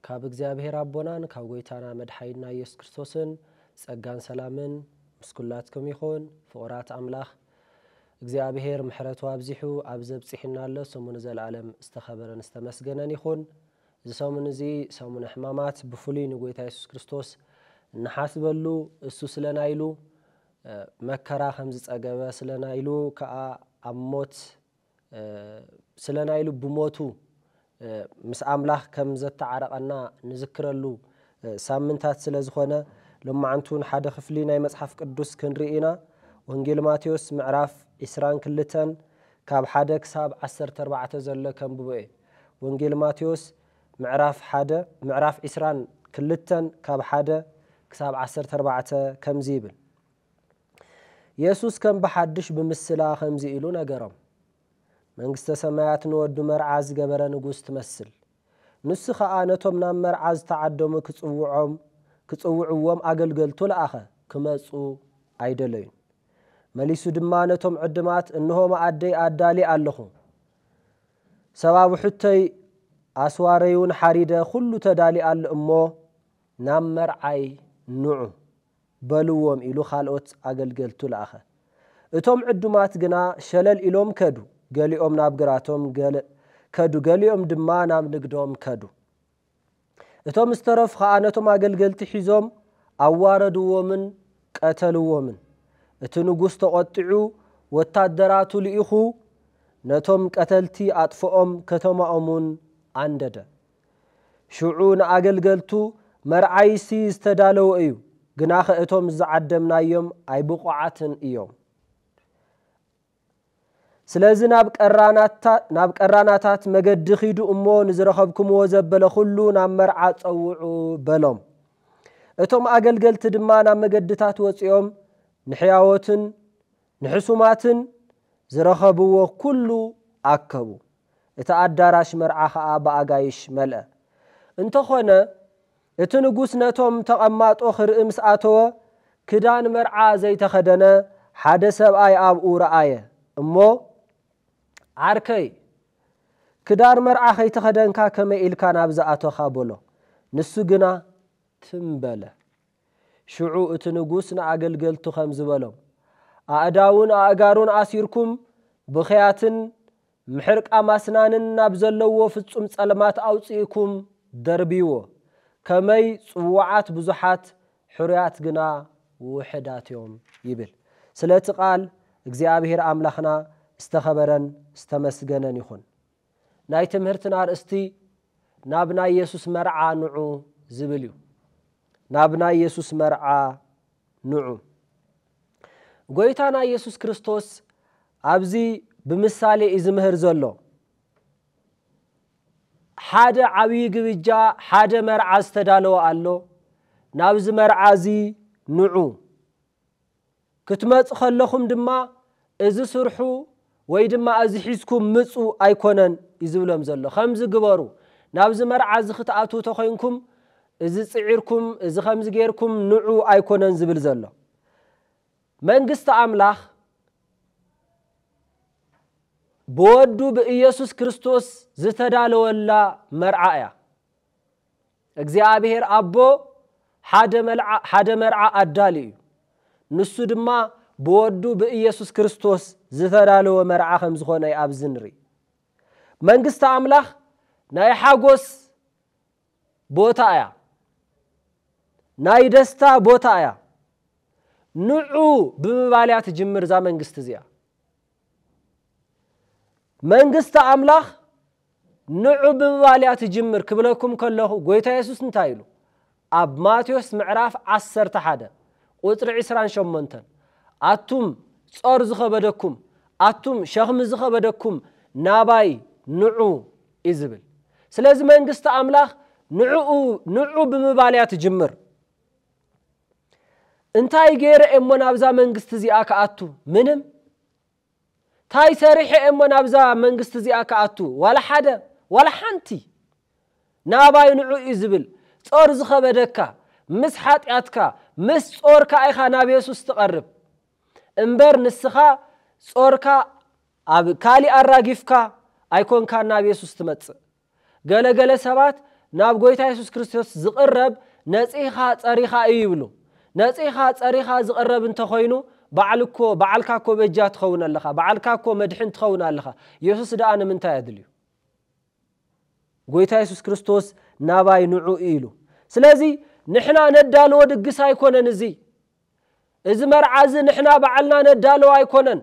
ካብ እግዚኣብሔር ኣቦናን ካብ ጎይታና መድሓኒና ኢየሱስ ክርስቶስን ጸጋን ሰላምን ምስ ኩላትኩም ይኹን ፍቁራት ኣምላኽ እግዚኣብሔር ምሕረቱ ኣብዚሑ ኣብዚ ኣብጺሑና ኣሎ ስሙ ንዘልኣለም ዝተኸበረን ዝተመስገነን ይኹን እዚ ሰሙን እዚ ሰሙነ ሕማማት ብፍሉይ ንጎይታ ኢየሱስ ክርስቶስ እንሓስበሉ እሱ ስለና ኢሉ መከራ ከም ዝጸገበ ስለና ኢሉ ከኣ ኣብ ሞት ስለ ናይ ልቡ ሞቱ ምስ ኣምላኽ ከም ዘተዓረቐና ንዝክረሉ ሳምንታት ስለ ዝኾነ ሎማዕንቲ ውን ሓደ ክፍሊ ናይ መጽሓፍ ቅዱስ ክንርኢ ኢና ወንጌል ማቴዎስ ምዕራፍ ዕስራን ክልተን ካብ ሓደ ክሳብ ዓሰርተ ኣርባዕተ ዘሎ ከንብቦ እየ ወንጌል ማቴዎስ ምዕራፍ ሓደ ምዕራፍ ዕስራን ክልተን ካብ ሓደ ክሳብ ዓሰርተ ኣርባዕተ ከምዚ ይብል የሱስ ከም ብሓድሽ ብምስላ ኸምዚ ኢሉ ነገሮም፣ መንግስተ ሰማያት ንወዱ መርዓ ዝገበረ ንጉስ ትመስል። ንሱ ኸኣ ነቶም ናብ መርዓ ዝተዓደሙ ክጽውዖም ክጽውዕዎም ኣገልገልቱ ለኣኸ፣ ክመጹ ኣይደለዩን። መሊሱ ድማ ነቶም ዕድማት እንሆ መኣደይ ኣዳልየ ኣለኹ፣ ሰባብሑተይ ኣስዋረይውን ሓሪደ ዅሉ ተዳልዩ ኣሎ እሞ ናብ መርዓይ ንዑ። በልዎም ኢሉ ኻልኦት ኣገልገልቱ ለኣኸ። እቶም ዕዱማት ግና ሸለል ኢሎም ከዱ፣ ገሊኦም ናብ ግራቶም ከዱ፣ ገሊኦም ድማ ናብ ንግዶም ከዱ። እቶም ዝተረፉ ኸኣ ነቶም ኣገልገልቲ ሒዞም ኣዋረድዎምን ቀተልዎምን። እቲ ንጉስ ተቖጢዑ ወታደራቱ ልኢኹ ነቶም ቀተልቲ ኣጥፍኦም፣ ከተማኦምውን ኣንደደ። ሽዑ ንኣገልገልቱ፣ መርዓይሲ ዝተዳለወ እዩ፣ ግናኸ እቶም ዝዓደምናዮም ኣይብቑዓትን እዮም። ስለዚ ናብ ቀራናታት መገዲ ኺዱ እሞ ንዝረኸብኩምዎ ዘበለ ዅሉ ናብ መርዓ ጸውዑ በሎም። እቶም ኣገልገልቲ ድማ ናብ መገድታት ወጺኦም ንሕያዎትን ንሕሱማትን ዝረኸብዎ ኵሉ ኣከቡ። እቲ ኣዳራሽ መርዓ ኸኣ ብኣጋይሽ መልአ። እንተ ዀነ፣ እቲ ንጉስ ነቶም ተቐማጦ ኺርኢ ምስ ኣተወ፣ ክዳን መርዓ ዘይተኸደነ ሓደ ሰብኣይ ኣብኡ ረኣየ እሞ፣ ዓርከይ፣ ክዳን መርዓ ኸይተኸደንካ ከመይ ኢልካ ናብዚ ኣቶኻ? በሎ። ንሱ ግና ትም በለ። ሽዑ እቲ ንጉስ ንኣገልገልቱ ኸምዚ በሎም፣ ኣእዳዉን ኣእጋሩን ኣሲርኩም ብኽያትን ምሕርቃም ኣስናንን ናብ ዘለዎ ፍጹም ጸልማት ኣውጺእኩም ደርብይዎ። ከመይ ጽዉዓት ብዙሓት ሕሩያት ግና ውሑዳት እዮም ይብል። ስለቲ ቃል እግዚኣብሄር ኣምላኽና ዝተኸበረን ዝተመስገነን ይኹን። ናይ ትምህርትና ኣርእስቲ ናብ ናይ የሱስ መርዓ ንዑ ዝብል እዩ። ናብ ናይ የሱስ መርዓ ንዑ፣ ጐይታና ኢየሱስ ክርስቶስ ኣብዚ ብምሳሌ እዩ ዝምህር ዘሎ። ሓደ ዓብዪ ግብጃ፣ ሓደ መርዓ ዝተዳለወ ኣሎ። ናብዚ መርዓ እዚ ንዑ፣ ክትመጹ ከለኹም ድማ እዚ ስርሑ ወይ ድማ እዚ ሒዝኩም ምጹ ኣይኮነን ዩ ዝብሎም ዘሎ ከምዚ ግበሩ ናብዚ መርዓ እዚ ክትኣትዉ ተኮይንኩም እዚ ጽዒርኩም እዚ ከምዚ ጌርኩም ንዑ ኣይኮነን ዝብል ዘሎ መንግስቲ ኣምላኽ ብወዱ ብኢየሱስ ክርስቶስ ዝተዳለወላ መርዓ እያ። እግዚኣብሄር ኣቦ ሓደ መርዓ ኣዳልዩ እዩ። ንሱ ድማ ብወዱ ብኢየሱስ ክርስቶስ ዝተዳለወ መርዓ ከም ዝኾነ እዩ ኣብዚ ንርኢ። መንግስቲ ኣምላኽ ናይ ሓጎስ ቦታ እያ። ናይ ደስታ ቦታ እያ። ንዑ ብምባል እያ ትጅምር እዛ መንግስቲ እዚኣ። መንግስቲ ኣምላኽ ንዑ ብምባል እያ ትጅምር ክብለኩም ከለኹ ጎይታ የሱስ እንታይ ኢሉ ኣብ ማቴዎስ ምዕራፍ ዓሰርተ ሓደ ቁጽሪ ዕስራን ሸሞንተን ኣቱም ጾር ዝኸበደኩም ኣቱም ሸኽሚ ዝኸበደኩም ናባይ ንዑ እዩ ዝብል ስለዚ መንግስቲ ኣምላኽ ንዑ ብምባል እያ ትጅምር እንታይ ገይረ እየ እሞ ናብዛ መንግስቲ እዚኣ ክኣቱ ምንም እንታይ ሰሪሐ እየ እሞ ናብዛ መንግስቲ እዚኣ ክኣቱ ዋላ ሓደ ዋላ ሓንቲ ናባይ ንዑ እዩ ዝብል ጾር ዝኸበደካ ምስ ሓጢኣትካ ምስ ጾርካ ኢኻ ናብ የሱስ ትቐርብ እምበር ንስኻ ጾርካ ኣብ ካሊእ ኣራጊፍካ ኣይኮንካ ናብ የሱስ ትመጽእ ገለ ገለ ሰባት ናብ ጎይታ የሱስ ክርስቶስ ዝቕረብ ነጺህካ ጸሪኻ እዩ ይብሉ። ነጺህካ ጸሪኻ ዝቕረብ እንተ ኮይኑ ባዕሉ እኮ ባዕልካ እኮ በጃ ትኸውን ኣለኻ ባዕልካ እኮ መድሕን ትኸውን ኣለኻ የሱስ ደኣ ንምንታይ ኣድልዩ? ጎይታ የሱስ ክርስቶስ ናባይ ንዑ ኢሉ። ስለዚ ንሕና ነዳልዎ ድግስ ኣይኮነን እዚ። እዚ መርዓ እዚ ንሕና ባዕልና ነዳልዎ ኣይኮነን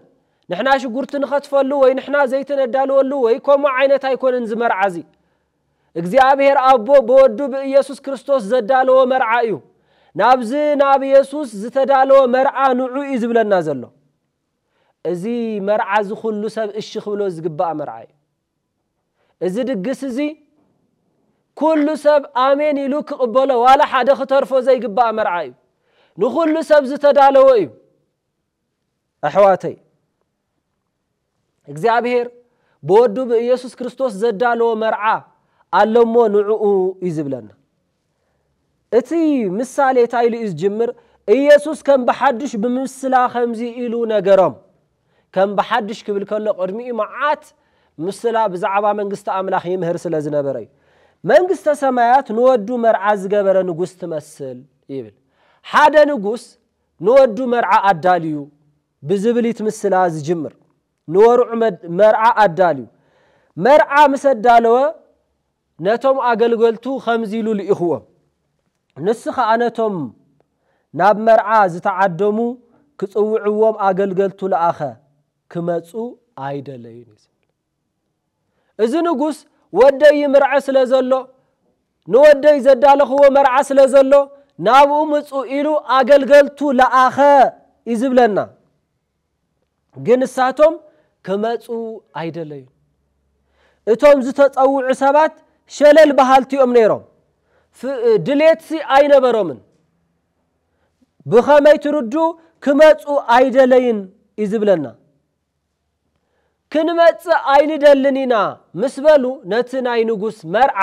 ንሕና ሽጉርቲ ንኸትፈሉ ወይ ንሕና ዘይቲ ነዳልወሉ ወይ ከምኡ ዓይነት ኣይኮነን እዚ መርዓ እዚ እግዚኣብሔር ኣቦ ብወዱ ብኢየሱስ ክርስቶስ ዘዳለዎ መርዓ እዩ ናብዚ ናብ ኢየሱስ ዝተዳለወ መርዓ ንዑ እዩ ዝብለና ዘሎ እዚ መርዓ እዚ ኩሉ ሰብ እሺ ክብሎ ዝግባእ መርዓ እዩ እዚ ድግስ እዚ ኩሉ ሰብ ኣሜን ኢሉ ክቕበሎ ዋላ ሓደ ክተርፎ ዘይግባእ መርዓ እዩ። ንኹሉ ሰብ ዝተዳለወ እዩ። ኣሕዋተይ እግዚኣብሄር ብወዱ ብኢየሱስ ክርስቶስ ዘዳለዎ መርዓ ኣሎሞ ንዕኡ እዩ ዝብለና። እቲ ምሳሌ ታይ ኢሉ እዩ ዝጅምር? ኢየሱስ ከም ብሓዱሽ ብምስላ ከምዚ ኢሉ ነገሮም። ከም ብሓዱሽ ክብል ከሎ ቅድሚኡ መዓት ምስላ ብዛዕባ መንግስቲ ኣምላኽ ይምህር ስለ ዝነበረ እዩ። መንግስተ ሰማያት ንወዱ መርዓ ዝገበረ ንጉስ ትመስል ይብል። ሓደ ንጉስ ንወዱ መርዓ ኣዳልዩ ብዝብል እዩ እቲ ምስላ ዝጅምር። ንወርዑ መርዓ ኣዳልዩ። መርዓ ምስ ኣዳለወ ነቶም ኣገልገልቱ ኸምዚ ኢሉ ልኢኽዎም፣ ንሱ ኸኣ ነቶም ናብ መርዓ ዝተዓደሙ ኪጽውዕዎም ኣገልገልቱ ለኣኸ፣ ኪመጹ ኣይደለዩን እዩ ዚብል። እዚ ንጉስ ወደይ ይምርዐ ስለ ዘሎ፣ ንወደይ ዘዳለኽዎ መርዓ ስለ ዘሎ፣ ናብኡ ምጹ ኢሉ ኣገልገልቱ ለኣኸ እዩ ዚብለና። ግን ንሳቶም ክመጹ ኣይደለዩን። እቶም ዝተጸውዑ ሰባት ሸለል በሃልቲ እዮም ነይሮም፣ ድሌትሲ ኣይነበሮምን። ብኸመይ ትርዱ ክመጹ ኣይደለይን እዩ ዝብለና። ክንመጽእ ኣይንደልን ኢና ምስ በሉ ነቲ ናይ ንጉስ መርዓ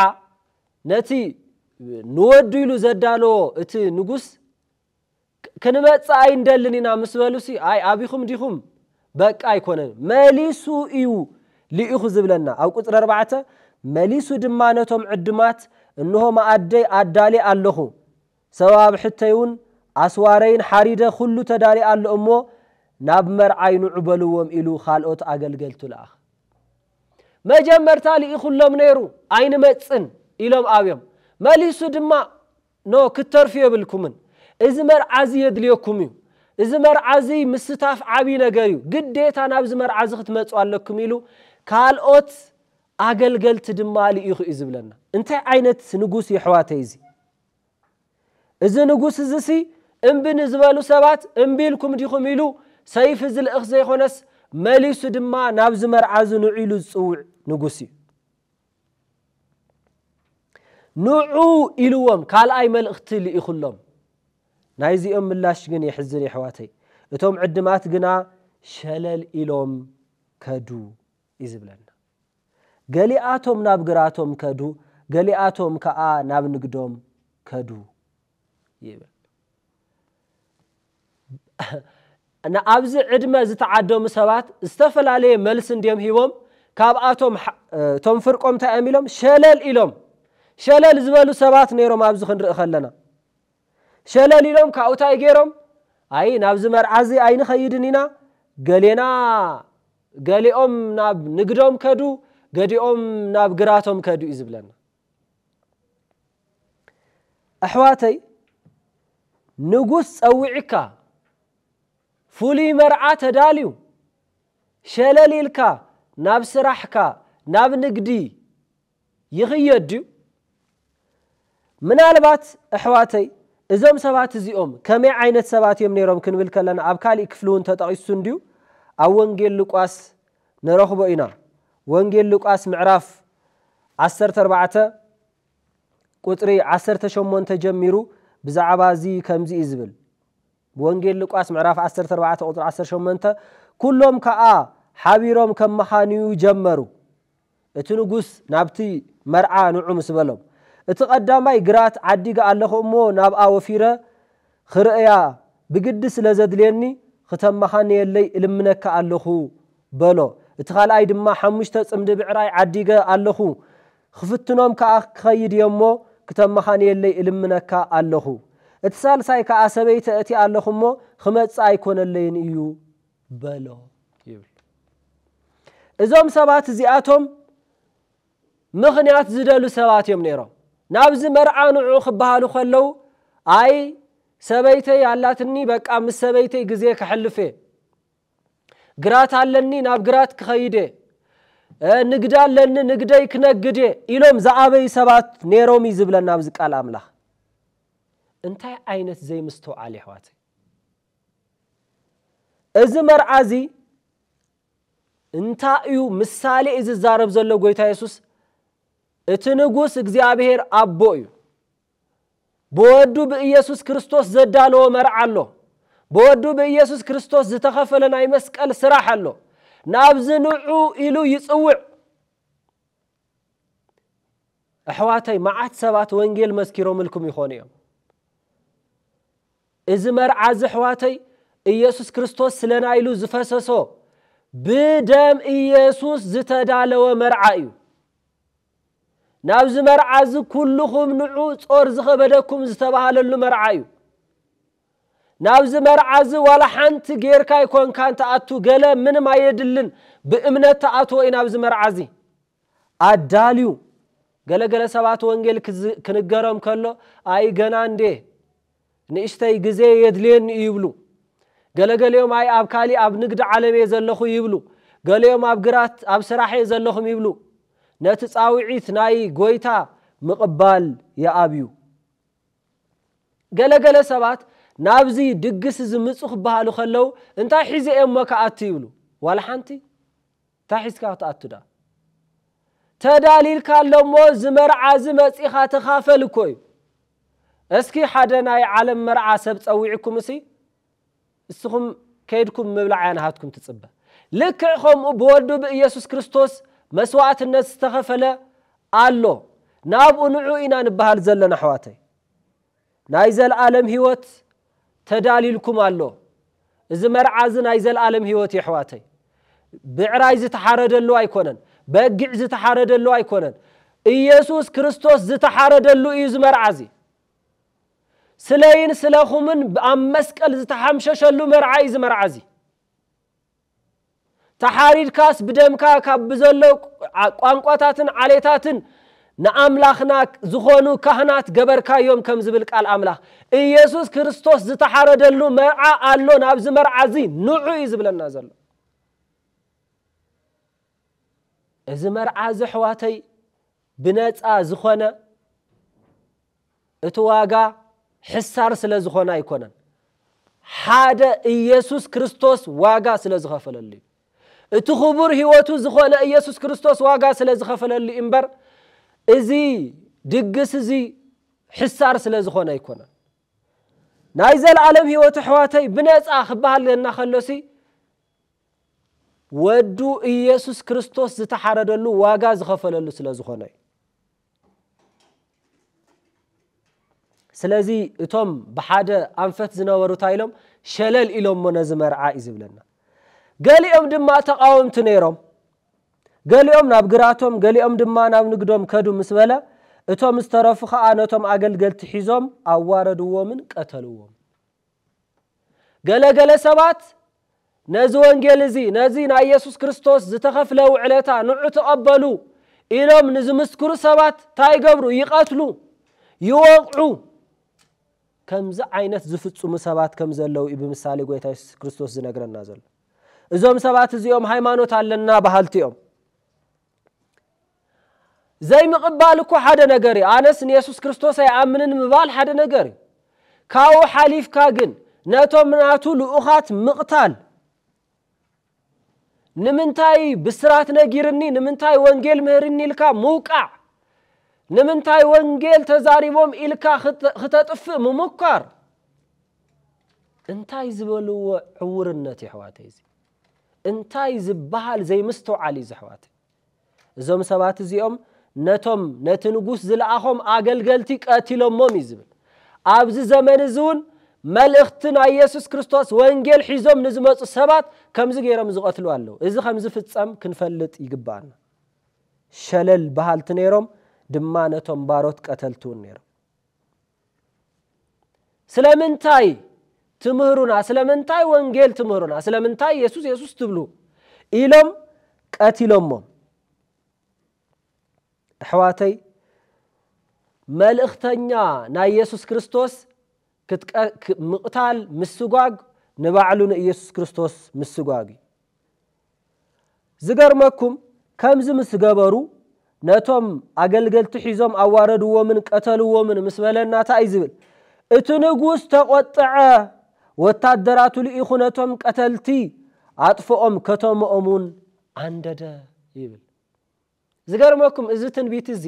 ነቲ ንወዱ ኢሉ ዘዳለዎ እቲ ንጉስ ክንመጽእ ኣይንደልን ኢና ምስ በሉሲ ኣይ ኣቢኹም ዲኹም በቃ ኣይኮነን መሊሱ እዩ ልኢኹ ዝብለና ኣብ ቁጽሪ ኣርባዕተ መሊሱ ድማ ነቶም ዕዱማት እንሆ መኣደይ ኣዳልየ ኣለኹ ሰበብ ኣብ ሕተይውን ኣስዋረይን ሓሪደ ኩሉ ተዳልየ ኣሎ እሞ ናብ መርዓይ ንዑ በልዎም ኢሉ ካልኦት ኣገልገልቱ ለኣኽ መጀመርታ ልኢኹሎም ነይሩ ኣይንመጽን ኢሎም ኣብዮም መሊሱ ድማ ን ክትተርፉ የብልኩምን እዚ መርዓ እዚ የድልየኩም እዩ እዚ መርዓ እዚ ምስታፍ ዓብይ ነገር እዩ ግዴታ ናብዚ መርዓ እዚ ክትመጹ ኣለኩም ኢሉ ካልኦት ኣገልገልቲ ድማ ልኢኹ እዩ ዝብለና እንታይ ዓይነት ንጉስ እዩ ኣሕዋተይ እዚ እዚ ንጉስ እዚ ሲ እምቢ ንዝበሉ ሰባት እምቢ ኢልኩም ዲኹም ኢሉ ሰይፊ ዝልእኽ ዘይኾነስ መሊሱ ድማ ናብዚ መርዓ እዚ ንዑ ኢሉ ዝጽውዕ ንጉስ እዩ ንዑ ኢልዎም ካልኣይ መልእኽቲ ልኢኹሎም። ናይዚኦም ምላሽ ግን የሕዝን የሕዋተይ። እቶም ዕድማት ግና ሸለል ኢሎም ከዱ እዩ ዝብለና። ገሊኣቶም ናብ ግራቶም ከዱ ገሊኣቶም ከኣ ናብ ንግዶም ከዱ ይብል። ንኣብዚ ዕድመ ዝተዓደሙ ሰባት ዝተፈላለየ መልሲ እንድዮም ሂቦም ካብኣቶም እቶም ፍርቆም እንታይ እዮም ኢሎም ሸለል ኢሎም ሸለል ዝበሉ ሰባት ነይሮም ኣብዚ ክንርኢ ከለና ሸለል ኢሎም ካብኡ እንታይ ገይሮም ኣይ ናብዚ መርዓ እዚ ኣይንኸይድን ኢና ገሌና ገሊኦም ናብ ንግዶም ከዱ ገዲኦም ናብ ግራቶም ከዱ እዩ ዝብለና ኣሕዋተይ ንጉስ ጸዊዕካ ፍሉይ መርዓ ተዳልዩ ሸለል ኢልካ ናብ ስራሕካ ናብ ንግዲ ይኽየድ ድዩ? ምናልባት ኣሕዋተይ እዞም ሰባት እዚኦም ከመይ ዓይነት ሰባት እዮም ነይሮም ክንብል ከለና ኣብ ካሊእ ክፍሊ እውን ተጠቒሱ እንድዩ ኣብ ወንጌል ሉቃስ ንረኽቦ ኢና ወንጌል ሉቃስ ምዕራፍ ዓሰርተ ኣርባዕተ ቁጽሪ ዓሰርተ ሸሞንተ ጀሚሩ ብዛዕባ እዚ ከምዚ እዩ ዝብል ወንጌል ሉቃስ ምዕራፍ ዓሰርተ ኣርባዕተ ቁጽሪ ዓሰርተ ሸሞንተ ኩሎም ከኣ ሓቢሮም ከመኻንዩ ጀመሩ እቲ ንጉስ ናብቲ መርዓ ንዑ ምስ በሎም እቲ ቀዳማይ ግራት ዓዲገ ኣለኹ እሞ ናብኣ ወፊረ ኽርእያ ብግዲ ስለ ዘድልየኒ ኽተመኻንየለይ እልምነካ ኣሎኹ፣ በሎ። እቲ ኻልኣይ ድማ፣ ሓሙሽተ ጽምዲ ብዕራይ ዓዲገ ኣሎኹ፣ ኽፍትኖም ከኣ ክኸይድ እየ እሞ፣ ክተመኻንየለይ እልምነካ ኣሎኹ። እቲ ሳልሳይ ከኣ፣ ሰበይቲ ኣእትየ ኣሎኹ እሞ፣ ኽመጽእ ኣይኰነለይን እዩ፣ በሎ ይብል። እዞም ሰባት እዚኣቶም ምኽንያት ዝደሉ ሰባት እዮም ነይሮም። ናብዚ መርዓ ንዑ ክበሃሉ ከለዉ ኣይ ሰበይተይ ኣላትኒ በቃ ምስ ሰበይተይ ግዜ ከሕልፍ እየ፣ ግራት ኣለኒ ናብ ግራት ክኸይድ እየ፣ ንግዲ ኣለኒ ንግደይ ክነግድ እየ ኢሎም ዝኣበዩ ሰባት ነይሮም እዩ ዝብለና ኣብዚ ቃል ኣምላኽ። እንታይ ዓይነት ዘይምስትውዓል የሕዋተይ! እዚ መርዓ እዚ እንታይ እዩ ምሳሌ እዩ ዝዛረብ ዘሎ ጎይታ የሱስ? እቲ ንጉስ እግዚኣብሔር ኣቦ እዩ። ብወዱ ብኢየሱስ ክርስቶስ ዘዳለዎ መርዓ ኣሎ። ብወዱ ብኢየሱስ ክርስቶስ ዝተኸፈለ ናይ መስቀል ስራሕ ኣሎ። ናብዚ ንዑ ኢሉ ይጽውዕ። ኣሕዋተይ መዓት ሰባት ወንጌል መስኪሮምልኩም ይኾኑ እዮም። እዚ መርዓ እዚ ኣሕዋተይ ኢየሱስ ክርስቶስ ስለና ኢሉ ዝፈሰሶ ብደም ኢየሱስ ዝተዳለወ መርዓ እዩ። ናብዚ መርዓ እዚ ኩልኹም ንዑ ጾር ዝኸበደኩም ዝተባሃለሉ መርዓ እዩ። ናብዚ መርዓ እዚ ዋላ ሓንቲ ጌርካ ኣይኮንካን ትኣቱ ገለ ምንም ኣየድልን ብእምነት ትኣትዎ እዩ ናብዚ መርዓ እዚ። ኣዳልዩ። ገለ ገለ ሰባት ወንጌል ክንገሮም ከሎ ኣይ ገና እንዴ ንእሽተይ ግዜ የድልየኒ እዩ ይብሉ። ገለ ገሊኦም ኣይ ኣብ ካሊእ ኣብ ንግዲ ዓለም እየ ዘለኹ ይብሉ። ገሊኦም ኣብ ግራት ኣብ ስራሕ እየ ዘለኹም ይብሉ። ነቲ ጻውዒት ናይ ጎይታ ምቕባል ይኣብዩ። ገለ ገለ ሰባት ናብዚ ድግስ እዚ ምጹ ክበሃሉ ከለዉ እንታይ ሒዘ እየ እሞ ክኣቱ ይብሉ። ዋላ ሓንቲ። ታይ ሒዝካ ክትኣቱ ድኣ ተዳሊልካ ኣሎ እሞ እዚ መርዓ እዚ መጺኻ ተኻፈል እኮ እዩ እስኪ ሓደ ናይ ዓለም መርዓ ሰብ ጸዊዕኩም እሲ እስኹም ከይድኩም ምብላዕ እያ ናሃትኩም ትጽበ ልክዕ ከምኡ ብወዱ ብኢየሱስ ክርስቶስ መስዋእትነት ዝተኸፈለ ኣሎ ናብኡ ንዑ ኢና ንብሃል ዘለና ኣሕዋተይ ናይ ዘልኣለም ሂወት ተዳልይልኩም ኣሎ እዚ መርዓ እዚ ናይ ዘልኣለም ሂወት እዩ ኣሕዋተይ ብዕራይ ዝተሓረደሉ ኣይኮነን በጊዕ ዝተሓረደሉ ኣይኮነን ኢየሱስ ክርስቶስ ዝተሓረደሉ እዩ እዚ መርዓ እዚ ስለይን ስለኹምን ኣብ መስቀል ዝተሓምሸሸሉ መርዓ እዩ እዚ መርዓ እዚ ተሓሪድካስ ብደምካ ካብ ብዘሎ ቋንቋታትን ዓሌታትን ንኣምላኽና ዝኾኑ ካህናት ገበርካዮም ከም ዝብል ቃል ኣምላኽ ኢየሱስ ክርስቶስ ዝተሓረደሉ መርዓ ኣሎ ናብዚ መርዓ እዚ ንዑ እዩ ዝብለና ዘሎ እዚ መርዓ እዚ ኣሕዋተይ ብነፃ ዝኾነ እቲ ዋጋ ሕሳር ስለ ዝኾነ ኣይኮነን፣ ሓደ ኢየሱስ ክርስቶስ ዋጋ ስለ ዝኸፈለሉ እዩ። እቲ ክቡር ሕይወቱ ዝኾነ ኢየሱስ ክርስቶስ ዋጋ ስለ ዝኸፈለሉ እዩ እምበር እዚ ድግስ እዚ ሕሳር ስለ ዝኾነ ኣይኮነን። ናይ ዘለዓለም ሕይወት ኣሕዋተይ ብነፃ ክበሃለና ከሎሲ ወዱ ኢየሱስ ክርስቶስ ዝተሓረደሉ ዋጋ ዝኸፈለሉ ስለ ዝኾነ እዩ። ስለዚ እቶም ብሓደ ኣንፈት ዝነበሩ እንታይ ኢሎም ሸለል ኢሎሞ ነዚ መርዓ እዩ ዝብለና ገሊኦም ድማ ተቃወምቲ ነይሮም ገሊኦም ናብ ግራቶም ገሊኦም ድማ ናብ ንግዶም ከዱ ምስ በለ እቶም ዝተረፉ ከዓ ነቶም ኣገልገልቲ ሒዞም ኣዋረድዎምን ቀተልዎም ገለ ገለ ሰባት ነዚ ወንጌል እዚ ነዚ ናይ የሱስ ክርስቶስ ዝተኸፍለ ውዕለታ ንዑ ተቐበሉ ኢሎም ንዝምስክሩ ሰባት እንታይ ይገብሩ? ይቐትሉ፣ ይወቕዑ። ከምዚ ዓይነት ዝፍጽሙ ሰባት ከም ዘለዉ እዩ ብምሳሌ ጐይታ የሱስ ክርስቶስ ዝነግረና ዘሎ። እዞም ሰባት እዚኦም ሃይማኖት ኣለና በሃልቲ እዮም። ዘይምቕባል እኮ ሓደ ነገር እዩ። ኣነስ ንየሱስ ክርስቶስ ኣይኣምንን ምባል ሓደ ነገር እዩ። ካብኡ ሓሊፍካ ግን ነቶም ናቱ ልኡኻት ምቕታል ንምንታይ ብስራት ነጊርኒ ንምንታይ ወንጌል ምህርኒ ኢልካ ምውቃዕ ንምንታይ ወንጌል ተዛሪቦም ኢልካ ክተጥፍእ ምሙኳር እንታይ ዝበልዎ ዕውርነት የሕዋተይ እዚ እንታይ ዝበሃል ዘይምስትውዓል እዩ ዘሕዋተይ እዞም ሰባት እዚኦም ነቶም ነቲ ንጉስ ዝለኣኾም ኣገልገልቲ ቀቲሎሞም እዩ ዝብል ኣብዚ ዘመን እዚ እውን መልእኽቲ ናይ የሱስ ክርስቶስ ወንጌል ሒዞም ንዝመፁ ሰባት ከምዚ ገይሮም ዝቐትሉ ኣለዉ እዚ ከም ዝፍፀም ክንፈልጥ ይግባኣና ሸለል በሃልቲ ነይሮም ድማ ነቶም ባሮት ቀተልቲ እውን ነይሮም ስለምንታይ ትምህሩና ስለምንታይ ወንጌል ትምህሩና ስለምንታይ የሱስ የሱስ ትብሉ ኢሎም ቀቲሎሞም ኣሕዋተይ መልእኽተኛ ናይ የሱስ ክርስቶስ ምቕታል ምስጓግ ንባዕሉ ንኢየሱስ ክርስቶስ ምስጓግ እዩ ዝገርመኩም ከምዚ ምስ ገበሩ ነቶም ኣገልገልቲ ሒዞም ኣዋረድዎምን ቀተልዎምን ምስ በለና ታይ እዩ ዝብል እቲ ንጉስ ተቆጥዐ ወታደራቱ ልኢኹ ነቶም ቀተልቲ ኣጥፍኦም ከተመኦም እውን ኣንደደ ይብል ዝገርመኩም እዚ ትንቢት እዚ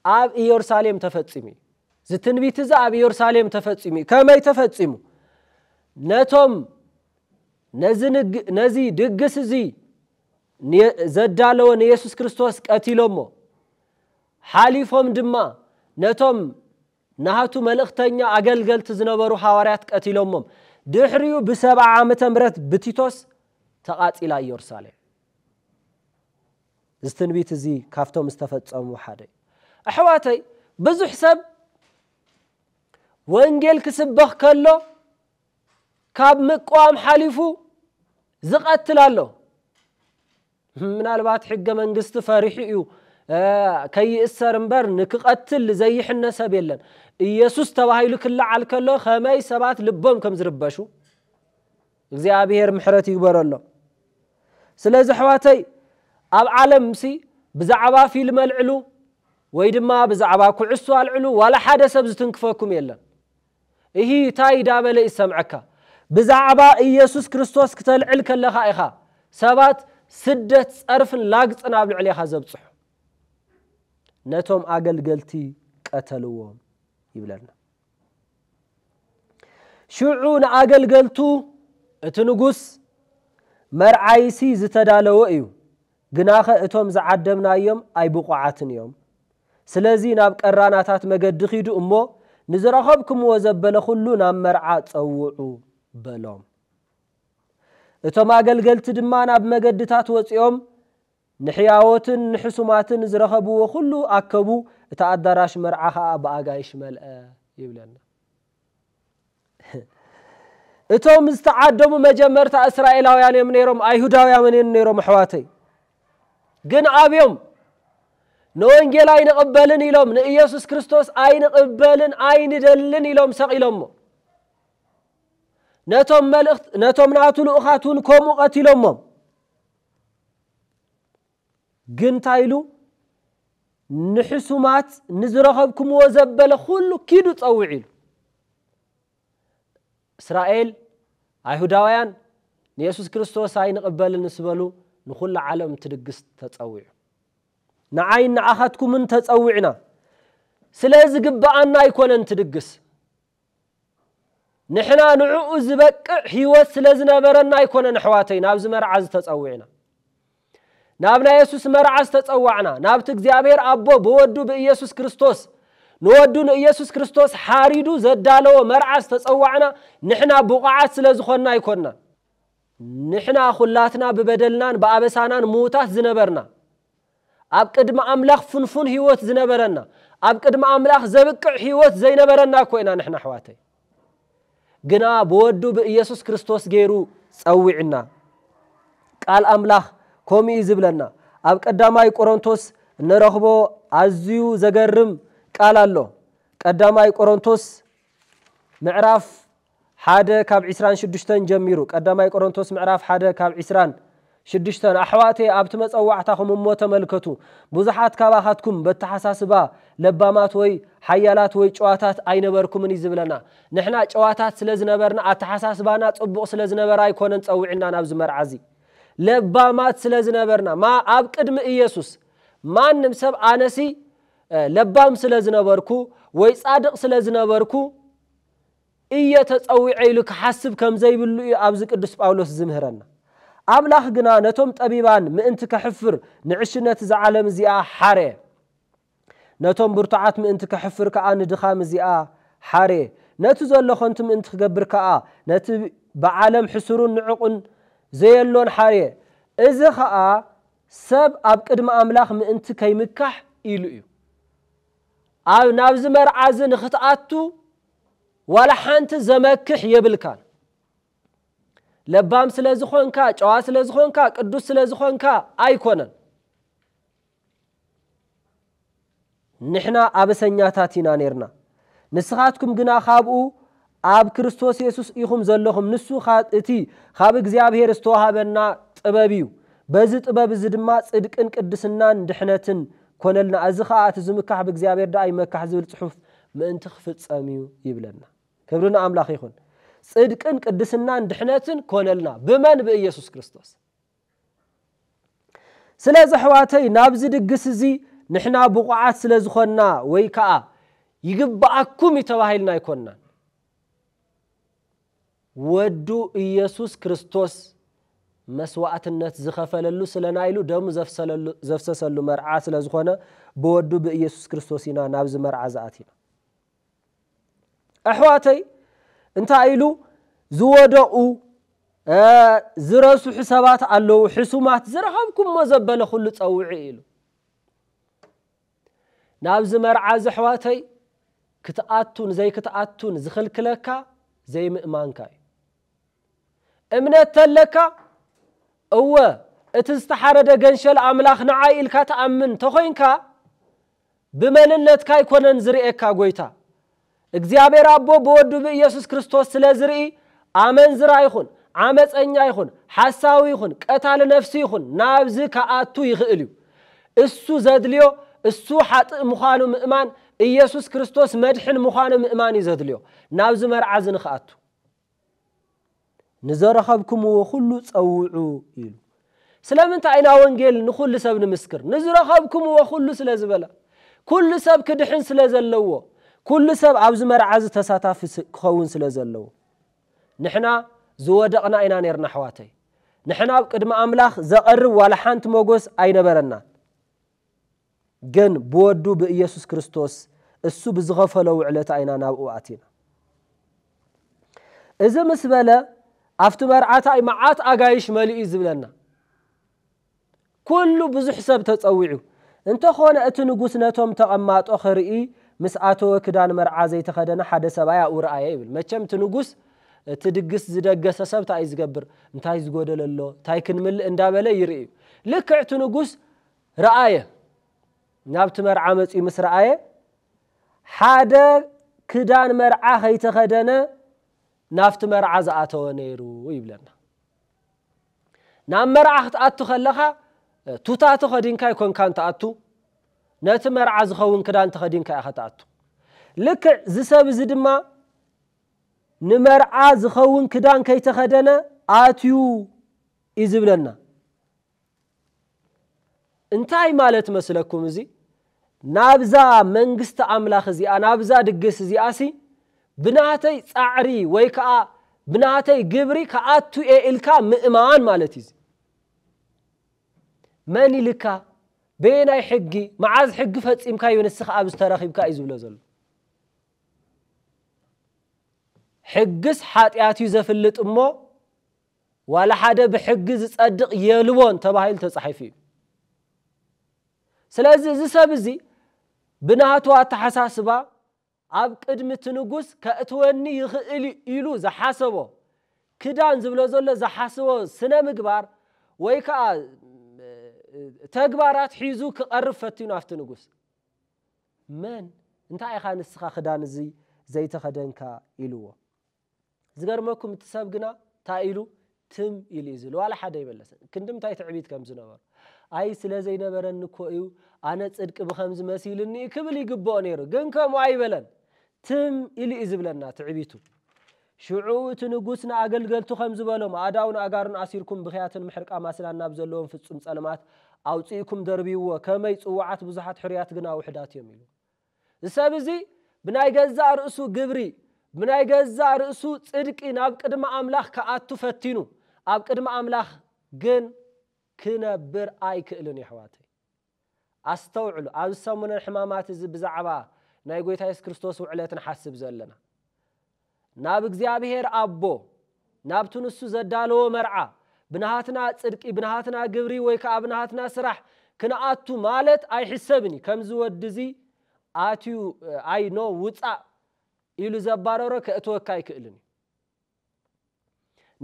ኣብ ኢየሩሳሌም ተፈጺሙ እዩ። እዚ ትንቢት እዚ ኣብ ኢየሩሳሌም ተፈጺሙ እዩ። ከመይ ተፈጺሙ? ነቶም ነዚ ድግስ እዚ ዘዳለወ ንየሱስ ክርስቶስ ቀቲሎሞ ሓሊፎም ድማ ነቶም ናህቱ መልእኽተኛ ኣገልገልቲ ዝነበሩ ሃዋርያት ቀቲሎሞም ድሕሪኡ ብሰብዓ ዓመተ ምረት ብቲቶስ ተቓጺላ ኢየሩሳሌም እዚ ትንቢት እዚ ካብቶም ዝተፈጸሙ ሓደ እዩ። ኣሕዋተይ ብዙሕ ሰብ ወንጌል ክስበኽ ከሎ ካብ ምቅዋም ሓሊፉ ዝቀትል ኣሎ። ምናልባት ሕገ መንግስቲ ፈሪሑ እዩ ከይእሰር እምበር ንክቀትል ዘይሕነ ሰብ የለን። ኢየሱስ ተባሂሉ ክለዓል ከሎ ከመይ ሰባት ልቦም ከም ዝርበሹ እግዚኣብሔር ምሕረት ይግበረሎም ስለዚ ኣሕዋተይ ኣብ ዓለም ሲ ብዛዕባ ፊልም ኣልዕሉ ወይ ድማ ብዛዕባ ኩዕሶ ኣልዕሉ ዋላ ሓደ ሰብ ዝትንክፈኩም የለን እሂ ታይ ዳበለ ይሰምዐካ ብዛዕባ ኢየሱስ ክርስቶስ ክተልዕል ከለኻ ኢኻ ሰባት ስደት ጸርፍን ላግጽን ኣብ ልዕሌኻ ዘብጽሑ ነቶም ኣገልገልቲ ቀተልዎም ይብለና ሽዑ ንኣገልገልቱ፣ እቲ ንጉስ፣ መርዓይሲ ዝተዳለወ እዩ፣ ግናኸ እቶም ዝዓደምናዮም ኣይብቑዓትን እዮም። ስለዚ ናብ ቀራናታት መገዲ ኺዱ እሞ፣ ንዝረኸብኩምዎ ዘበለ ዅሉ ናብ መርዓ ጸውዑ፣ በሎም። እቶም ኣገልገልቲ ድማ ናብ መገድታት ወጺኦም ንሕያዎትን ንሕሱማትን ዝረኸብዎ ዅሉ ኣከቡ፣ እቲ ኣዳራሽ መርዓ ኸኣ ብኣጋይሽ መልአ ይብለና። እቶም ዝተዓደሙ መጀመርታ እስራኤላውያን እዮም ነይሮም፣ ኣይሁዳውያምን እዮም ነይሮም ኣሕዋተይ። ግን ኣብዮም ንወንጌል ኣይንቕበልን ኢሎም፣ ንኢየሱስ ክርስቶስ ኣይንቕበልን ኣይንደልን ኢሎም ሰቒሎሞ። ነቶም መልእኽት ነቶም ናቱ ልኡኻት እውን ከምኡ ቀቲሎሞም። ግን እንታይ ኢሉ ንሕሱማት ንዝረኸብኩምዎ ዘበለ ኩሉ ኪዱ ጸውዕ ኢሉ እስራኤል ኣይሁዳውያን ንየሱስ ክርስቶስ ኣይንቕበልን ምስ በሉ ንዅሉ ዓለም እቲ ድግስ ተጸዊዑ ንዓይን ንዓኻትኩምን ተጸዊዕና ስለ ዝግብኣና ኣይኮነን እቲ ድግስ ንሕና ንዕኡ ዝበቅዕ ህይወት ስለ ዝነበረና ኣይኮነን ኣሕዋተይ ናብዚ መርዓ እዚ ተጸዊዕና። ናብ ናይ የሱስ መርዓ ዝተጸዋዕና፣ ናብቲ እግዚኣብሔር ኣቦ ብወዱ ብኢየሱስ ክርስቶስ ንወዱ ንኢየሱስ ክርስቶስ ሓሪዱ ዘዳለዎ መርዓ ዝተጸዋዕና ንሕና ብቑዓት ስለ ዝኾንና ኣይኮንናን። ንሕና ኩላትና ብበደልናን ብኣበሳናን ምዉታት ዝነበርና፣ ኣብ ቅድሚ ኣምላኽ ፍንፉን ሕይወት ዝነበረና፣ ኣብ ቅድሚ ኣምላኽ ዘብቅዕ ሕይወት ዘይነበረና እኮ ኢና ንሕና ኣሕዋተይ። ግና ብወዱ ብኢየሱስ ክርስቶስ ገይሩ ጸዊዕና። ቃል ኣምላኽ ከምኡ እዩ ዝብለና። ኣብ ቀዳማይ ቆሮንቶስ እንረኽቦ ኣዝዩ ዘገርም ቃል ኣሎ። ቀዳማይ ቆሮንቶስ ምዕራፍ ሓደ ካብ ዕስራን ሽዱሽተን ጀሚሩ፣ ቀዳማይ ቆሮንቶስ ምዕራፍ ሓደ ካብ ዕስራን ሽዱሽተን፣ ኣሕዋተየ ኣብቲ መጸዋዕታኹም እሞ ተመልከቱ፣ ብዙሓት ካባኻትኩም በተሓሳስባ ለባማት ወይ ሓያላት ወይ ጭዋታት ኣይነበርኩምን እዩ ዝብለና። ንሕና ጭዋታት ስለ ዝነበርና ኣተሓሳስባና ጽቡቕ ስለ ዝነበረ ኣይኮነን ጸዊዕና ናብዚ መርዓ እዚ። ለባማት ስለ ዝነበርና ማ ኣብ ቅድሚ ኢየሱስ ማንም ሰብ ኣነሲ ለባም ስለ ዝነበርኩ ወይ ጻድቕ ስለ ዝነበርኩ እየ ተጸዊዐ ኢሉ ክሓስብ ከም ዘይብሉ እዩ ኣብዚ ቅዱስ ጳውሎስ ዝምህረና። ኣምላኽ ግና ነቶም ጠቢባን ምእንቲ ከሕፍር ንዕሽነት እዛ ዓለም እዚኣ ሓርየ። ነቶም ብርቱዓት ምእንቲ ከሕፍር ከኣ ንድኻም እዚኣ ሓርየ። ነቲ ዘሎ ከንቱ ምእንቲ ክገብር ከኣ ነቲ ብዓለም ሕሱሩን ንዕቕን ዘየሎን ሓርየ። እዚ ኸኣ ሰብ ኣብ ቅድሚ ኣምላኽ ምእንቲ ከይምካሕ ኢሉ እዩ። ኣብ ናብዚ መርዓዚ ንክትኣቱ ዋላ ሓንቲ ዘመክሕ የብልካን። ለባም ስለ ዝኾንካ፣ ጨዋ ስለ ዝኾንካ፣ ቅዱስ ስለ ዝኾንካ ኣይኮነን። ንሕና ኣበሰኛታት ኢና ኔርና፣ ንስኻትኩም ግና ካብኡ ኣብ ክርስቶስ የሱስ ኢኹም ዘለኹም፣ ንሱ ኻብ እቲ ኻብ እግዚኣብሄር ዝተዋህበና ጥበብ እዩ፣ በዚ ጥበብ እዚ ድማ ጽድቅን ቅድስናን ድሕነትን ኰነልና፣ እዚ ኸኣ እቲ ዝምካሕ ብእግዚኣብሄር ደኣ ይመካሕ ዝብል ጽሑፍ ምእንቲ ኺፍጸም እዩ ይብለና። ክብሪ ንኣምላኽ ይኹን። ጽድቅን ቅድስናን ድሕነትን ኰነልና፣ ብመን? ብኢየሱስ ክርስቶስ። ስለዚ ኣሕዋተይ ናብዚ ድግስ እዚ ንሕና ብቑዓት ስለ ዝኾንና ወይ ከኣ ይግብኣኩም እዩ ተባሂልና ኣይኮንናን። ወዱ ኢየሱስ ክርስቶስ መስዋእትነት ዝኸፈለሉ ስለ ናይ ኢሉ ደሙ ዘፍሰሰሉ መርዓ ስለ ዝኾነ ብወዱ ብኢየሱስ ክርስቶስ ኢና ናብዚ መርዓ ዝኣቲና። ኣሕዋተይ እንታይ ኢሉ ዝወደቑ ዝረስሑ ሰባት ኣለዉ ሕሱማት ዝረኸብኩሞ ዘበለ ኩሉ ፀውዒ ኢሉ ናብዚ መርዓ እዚ ኣሕዋተይ ክትኣቱን ዘይክትኣቱን ዝኽልክለካ ዘይምእማንካ እዩ እምነት ተለካ እወ እቲ ዝተሓረደ ገንሸል ኣምላኽ ንዓይ ኢልካ ትኣምን ተኾይንካ ብመንነትካ ኣይኮነን ዝርእየካ ጎይታ እግዚኣብሔር ኣቦ ብወዱ ብኢየሱስ ክርስቶስ ስለ ዝርኢ ኣመንዝራ ይኹን ዓመጸኛ ይኹን ሓሳዊ ይኹን ቀታሊ ነፍሲ ይኹን ናብዚ ክኣቱ ይኽእል እዩ እሱ ዘድልዮ እሱ ሓጥእ ምዃኑ ምእማን ኢየሱስ ክርስቶስ መድሕን ምዃኑ ምእማን እዩ ዘድልዮ ናብዚ መርዓ እዚ ንክኣቱ ንዘረኸብኩምዎ ዅሉ ጸውዑ ኢሉ። ስለምንታይ ኢና ወንጌል ንዅሉ ሰብ ንምስክር? ንዝረኸብኩምዎ ዅሉ ስለ ዝበለ፣ ኵሉ ሰብ ክድሕን ስለ ዘለዎ፣ ኵሉ ሰብ ኣብዚ መርዓ እዚ ተሳታፊ ክኸውን ስለ ዘለዎ። ንሕና ዝወደቕና ኢና ኔርና ኣሕዋተይ። ንሕና ኣብ ቅድሚ ኣምላኽ ዘቐርብ ዋላ ሓንቲ መጐስ ኣይነበረናን። ግን ብወዱ ብእየሱስ ክርስቶስ እሱ ብዝኸፈሎ ውዕለታ ኢና ናብኡ ኣቲና። እዚ ምስ በለ ኣብቲ መርዓታይ መዓት ኣጋይሽ መሊኡ እዩ ዝብለና። ኩሉ ብዙሕ ሰብ ተጸዊዑ። እንተኾነ እቲ ንጉስ ነቶም ተቐማጦ ክርኢ ምስ ኣተወ ክዳን መርዓ ዘይተኸደነ ሓደ ሰብኣይ ኣብኡ ረኣየ ይብል። መቸም እቲ ንጉስ እቲ ድግስ ዝደገሰ ሰብ እንታይ እዩ ዝገብር እንታይ ዝጎደለ ኣሎ እንታይ ክንምልእ እንዳበለ ይርኢ እዩ። ልክዕ እቲ ንጉስ ረኣየ። ናብቲ መርዓ መጺኡ ምስ ረኣየ፣ ሓደ ክዳን መርዓ ከይተኸደነ ናብቲ መርዓ ዝኣተወ ነይሩ ይብለና። ናብ መርዓ ክትኣቱ ከለኻ ቱታ ተኸዲንካ ኣይኮንካን ትኣቱ፣ ነቲ መርዓ ዝኸውን ክዳን ተኸዲንካ ኢኻ ትኣቱ። ልክዕ እዚ ሰብ እዚ ድማ ንመርዓ ዝኸውን ክዳን ከይተኸደነ ኣትዩ እዩ ዝብለና። እንታይ ማለት መስለኩም እዚ ናብዛ መንግስቲ ኣምላኽ እዚኣ ናብዛ ድግስ እዚኣሲ ብናተይ ጻዕሪ ወይ ከኣ ብናተይ ግብሪ ከኣቱ እየ ኢልካ ምእማን ማለት እዩ መን ኢልካ በየናይ ሕጊ መዓዝ ሕጊ ፈጺምካዮ ንስኻ ኣብዚ ተረኺብካ እዩ ዝብሎ ዘሎ ሕግስ ሓጢኣት እዩ ዘፍልጥ እሞ ዋላ ሓደ ብሕጊ ዝጸድቕ የልቦን ተባሂሉ ተጻሒፉ እዩ። ስለዚ እዚ ሰብ እዚ ብናቱ ኣተሓሳስባ ኣብ ቅድሚ እቲ ንጉስ ከእትወኒ ይኽእል እዩ ኢሉ ዝሓሰቦ ክዳን ዝብሎ ዘሎ ዝሓስቦ ስነ ምግባር ወይ ከኣ ተግባራት ሒዙ ክቐርብ ፈቲኑ ኣብቲ ንጉስ መን እንታይ ኢኻ ንስኻ ክዳን እዚ ዘይተኸደንካ ኢልዎ። ዝገርመኩም እቲ ሰብ ግና ታይ ኢሉ ትም ኢሉ እዩ ዝብል ዋላ ሓደ ኣይመለሰን ክንድምታይ ትዕቢት ከም ዝነበሮ ኣይ ስለ ዘይነበረኒ እኮ እዩ ኣነ ፅድቂ ብከምዚ መሲልኒ እዩ ክብል ይግበኦ ነይሩ ግን ከምኡ ኣይበለን ትም ኢሉ እዩ ዝብለና ትዕቢቱ ሽዑ እቲ ንጉስ ንኣገልገልቱ ከም ዝበሎም ኣእዳውን ኣእጋሩን ኣሲርኩም ብክያትን ምሕርቃም ኣስናን ናብ ዘለዎም ፍጹም ጸልማት ኣውጽእኩም ደርብይዎ ከመይ ጽዋዓት ብዙሓት ሕሩያት ግና ውሕዳት እዮም ኢሉ እዚ ሰብ እዚ ብናይ ገዛእ ርእሱ ግብሪ፣ ብናይ ገዛእ ርእሱ ጽድቂ ናብ ቅድሚ ኣምላኽ ክኣቱ ፈቲኑ፣ ኣብ ቅድሚ ኣምላኽ ግን ክነብር ኣይክእልን የሕዋተይ። ኣስተውዕሉ ኣብዚ ሰሙነ ሕማማት እዚ ብዛዕባ ናይ ጎይታ የሱስ ክርስቶስ ውዕለት ንሓስብ ዘለና። ናብ እግዚኣብሔር ኣቦ ናብቲ ንሱ ዘዳለዎ መርዓ ብናሃትና ጽድቂ ብናሃትና ግብሪ ወይ ከኣ ብናሃትና ስራሕ ክንኣቱ ማለት ኣይሕሰብን እዩ ከምዚ ወዲ እዚ ኣትዩ ኣይ ኖ ውጻእ ኢሉ ዘባረሮ ከእትወካ ኣይክእልን እዩ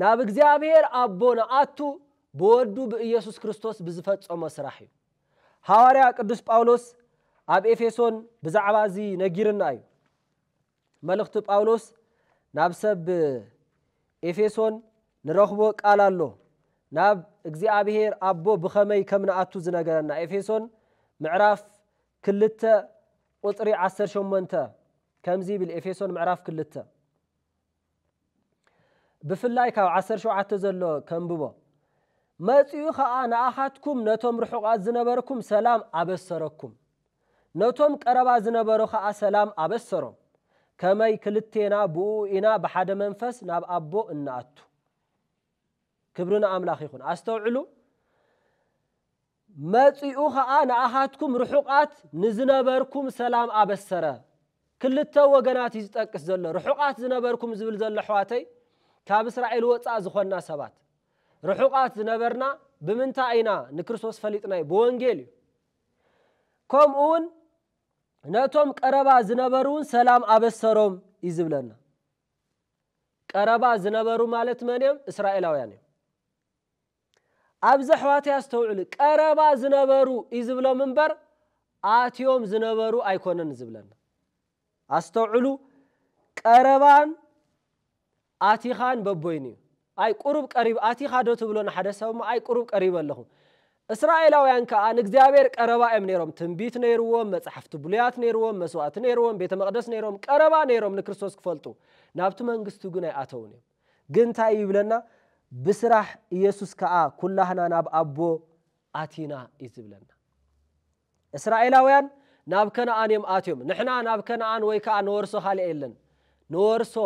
ናብ እግዚኣብሔር ኣቦ ንኣቱ ብወዱ ብኢየሱስ ክርስቶስ ብዝፈጸሞ ስራሕ እዩ ሃዋርያ ቅዱስ ጳውሎስ ኣብ ኤፌሶን ብዛዕባ እዚ ነጊርና እዩ መልእኽቲ ጳውሎስ ናብ ሰብ ኤፌሶን ንረኽቦ ቃል ኣሎ። ናብ እግዚኣብሔር ኣቦ ብኸመይ ከም ንኣቱ ዝነገረና ኤፌሶን ምዕራፍ ክልተ ቁጽሪ ዓሰርተ ሸሞንተ ከምዚ ይብል ኤፌሶን ምዕራፍ ክልተ ብፍላይ ካብ ዓሰርተ ሸውዓተ ዘሎ ከንብቦ። መጺኡ ኸኣ ንኣኻትኩም ነቶም ርሑቓት ዝነበርኩም ሰላም ኣበሰረኩም፣ ነቶም ቀረባ ዝነበሩ ኸኣ ሰላም ኣበሰሮም፣ ከመይ ክልቴና ብእኡ ኢና ብሓደ መንፈስ ናብ ኣቦ እንኣቱ። ክብሪ ንኣምላኽ ይኹን። ኣስተውዕሉ። መጺኡ ኸኣ ንኣኻትኩም ርሑቓት ንዝነበርኩም ሰላም ኣበሰረ። ክልተ ወገናት እዩ ዝጠቅስ ዘሎ። ርሑቓት ዝነበርኩም ዝብል ዘሎ ኣሕዋተይ ካብ እስራኤል ወጻእ ዝኾንና ሰባት ርሑቓት ዝነበርና ብምንታይ ኢና ንክርስቶስ ፈሊጥናዮ ብወንጌል እዩ። ከምኡ ውን ነቶም ቀረባ ዝነበሩ ውን ሰላም ኣበሰሮም እዩ ዝብለና። ቀረባ ዝነበሩ ማለት መን እዮም? እስራኤላውያን እዮም። ኣብዚ ኣሕዋተይ ኣስተውዕሉ ቀረባ ዝነበሩ እዩ ዝብሎም እምበር ኣትዮም ዝነበሩ ኣይኮነን ዝብለና ኣስተውዕሉ ቀረባን ኣቲኻን በቦይኑ እዩ ኣይ ቁሩብ ቀሪብ ኣቲኻ ዶ ትብሎ ንሓደ ሰብ እሞ ኣይ ቁሩብ ቀሪበ ኣለኹ እስራኤላውያን ከዓ ንእግዚኣብሔር ቀረባ እዮም ነይሮም ትንቢት ነይርዎም መጽሓፍቲ ብሉያት ነይርዎም መስዋእቲ ነይርዎም ቤተ መቅደስ ነይሮም ቀረባ ነይሮም ንክርስቶስ ክፈልጡ ናብቲ መንግስቱ ግን ኣይኣተውን እዮም ግን እንታይ እዩ ይብለና ብስራሕ እየሱስ ከኣ ኩላህና ናብ ኣቦ ኣቲና እዩ ዝብለና። እስራኤላውያን ናብ ከነኣን እዮም ኣትዮም ንሕና ናብ ከነኣን ወይ ከኣ ንወርሶ ካልእ የለን ንወርሶ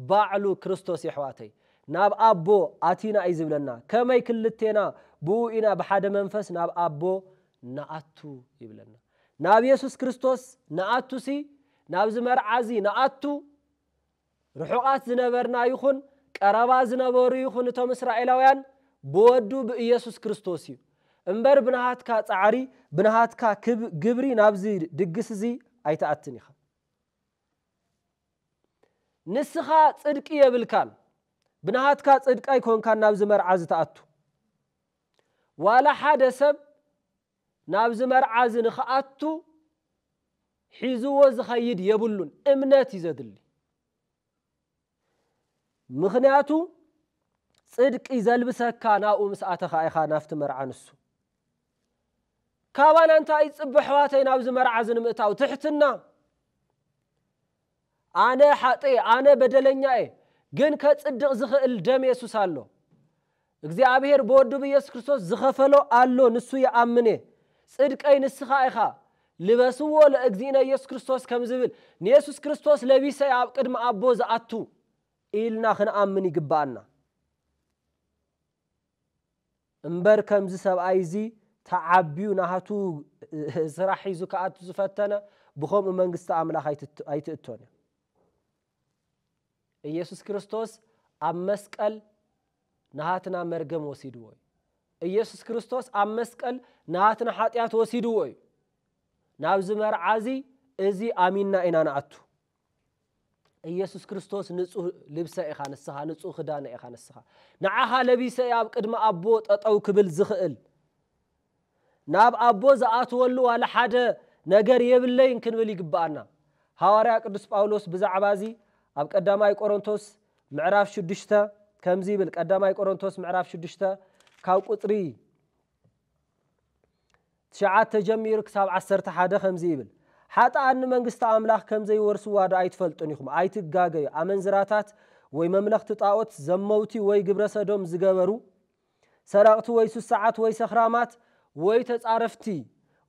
ባዕሉ ክርስቶስ የሕዋተይ ናብ ኣቦ ኣቲና እዩ ዝብለና ከመይ ክልቴና ብኡ ኢና ብሓደ መንፈስ ናብ ኣቦ ንኣቱ ይብለና ናብ የሱስ ክርስቶስ ንኣቱሲ ናብዚ መርዓዚ ንኣቱ ርሑቓት ዝነበርና ይኹን ቀረባ ዝነበሩ ይኹን እቶም እስራኤላውያን ብወዱ ብኢየሱስ ክርስቶስ እዩ እምበር ብናሃትካ ጻዕሪ ብናሃትካ ግብሪ ናብዚ ድግስ እዚ ኣይትኣትን ኢኻ። ንስኻ ጽድቂ የብልካን ብናሃትካ ጽድቂ ኣይኮንካን ናብዚ መርዓ እዚ ትኣቱ። ዋላ ሓደ ሰብ ናብዚ መርዓዚ ንክኣቱ ሒዝዎ ዝኸይድ የብሉን እምነት እዩ ዘድሊ ምኽንያቱ ፅድቂ ዘልብሰካ ናብኡ ምስ ኣተኻ ኢኻ ናፍቲ መርዓ ንሱ ካባና እንታይ ይፅበ ኣሕዋተይ ናብዚ መርዓዚ ንምእታው ትሕትና ኣነ ሓጥእየ ኣነ በደለኛ እየ ግን ከጽድቅ ዝኽእል ደም የሱስ ኣሎ እግዚኣብሄር ብወዱ ብየሱስ ክርስቶስ ዝኸፈሎ ኣሎ ንሱ ይኣምን እየ ጽድቀይ ንስኻ ኢኻ ልበስዎ ለእግዚእነ የሱስ ክርስቶስ ከም ዝብል ንየሱስ ክርስቶስ ለቢሰ እየ ኣብ ቅድሚ ኣቦ ዝኣቱ ኢልና ክንኣምን ይግብኣና እምበር ከምዚ ሰብኣይ እዚ ተዓብዩ ናቱ ስራሕ ሒዙ ክኣቱ ዝፈተነ ብከምኡ መንግስቲ ኣምላኽ ኣይትእቶን እያ። እየሱስ ክርስቶስ ኣብ መስቀል ናሃትና መርገም ወሲድዎ እዩ። እየሱስ ክርስቶስ ኣብ መስቀል ናሃትና ሓጢኣት ወሲድዎ እዩ። ናብዚ መርዓ እዚ እዚ ኣሚንና ኢና ንኣቱ። ኢየሱስ ክርስቶስ ንጹህ ልብሰ ኢኻ ንስኻ፣ ንጹህ ክዳነ ኢኻ ንስኻ። ንዓኻ ለቢሰ እየ ኣብ ቅድሚ ኣቦ ጠጠው ክብል ዝኽእል። ናብ ኣቦ ዝኣትወሉ ዋላ ሓደ ነገር የብለይን ክንብል ይግብኣና። ሃዋርያ ቅዱስ ጳውሎስ ብዛዕባ እዚ ኣብ ቀዳማይ ቆሮንቶስ ምዕራፍ ሽዱሽተ ከምዚ ይብል ቀዳማይ ቆሮንቶስ ምዕራፍ ሽዱሽተ ካብ ቁጽሪ ትሽዓተ ጀሚሩ ክሳብ ዓሰርተ ሓደ ከምዚ ይብል፣ ሓጥኣን ንመንግስቲ ኣምላኽ ከም ዘይወርስዋዶ ኣይትፈልጡን ኢኹም? ኣይትጋገዩ፣ ኣመንዝራታት ወይ መምለኽቲ ጣኦት፣ ዘመውቲ ወይ ግብረ ሰዶም ዝገበሩ፣ ሰረቕቲ ወይ ሱሳዓት ወይ ሰኽራማት፣ ወይ ተጻረፍቲ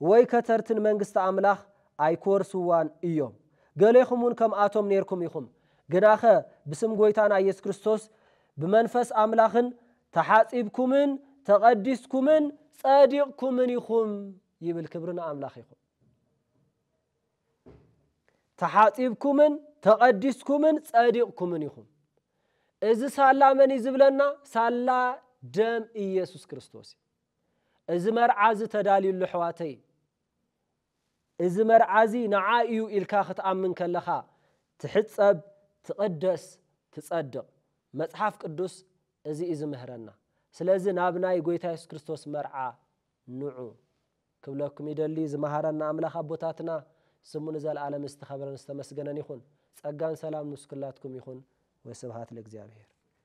ወይ ከተርቲ ንመንግስቲ ኣምላኽ ኣይክወርስዋን እዮም። ገሌኹምውን ከምኣቶም ኔርኩም ኢኹም። ግናኸ ብስም ጐይታና ኢየሱስ ክርስቶስ ብመንፈስ ኣምላኽን ተሓጺብኩምን ተቐዲስኩምን ጸዲቕኩምን ኢኹም ይብል ክብሪ ንኣምላኽ ይኹን። ተሓጺብኩምን ተቐዲስኩምን ጸዲቕኩምን ኢኹም እዚ ሳላ መን እዩ ዝብለና? ሳላ ደም ኢየሱስ ክርስቶስ እዩ። እዚ መርዓ እዚ ተዳልዩሉ ኣሕዋተይ እዚ መርዓ እዚ ንዓ እዩ ኢልካ ክትኣምን ከለኻ ትሕጸብ፣ ትቕደስ፣ ትጸድቕ። መጽሓፍ ቅዱስ እዚ እዩ ዝምህረና። ስለዚ ናብ ናይ ጎይታ የሱስ ክርስቶስ መርዓ ንዑ ክብለኩም ይደሊ። ዝመሃረና ኣምላኽ ኣቦታትና ስሙ ንዘልኣለም ዝተኸብረን ዝተመስገነን ይኹን። ጸጋን ሰላም ምስ ኩላትኩም ይኹን ወስብሃት ለእግዚኣብሄር።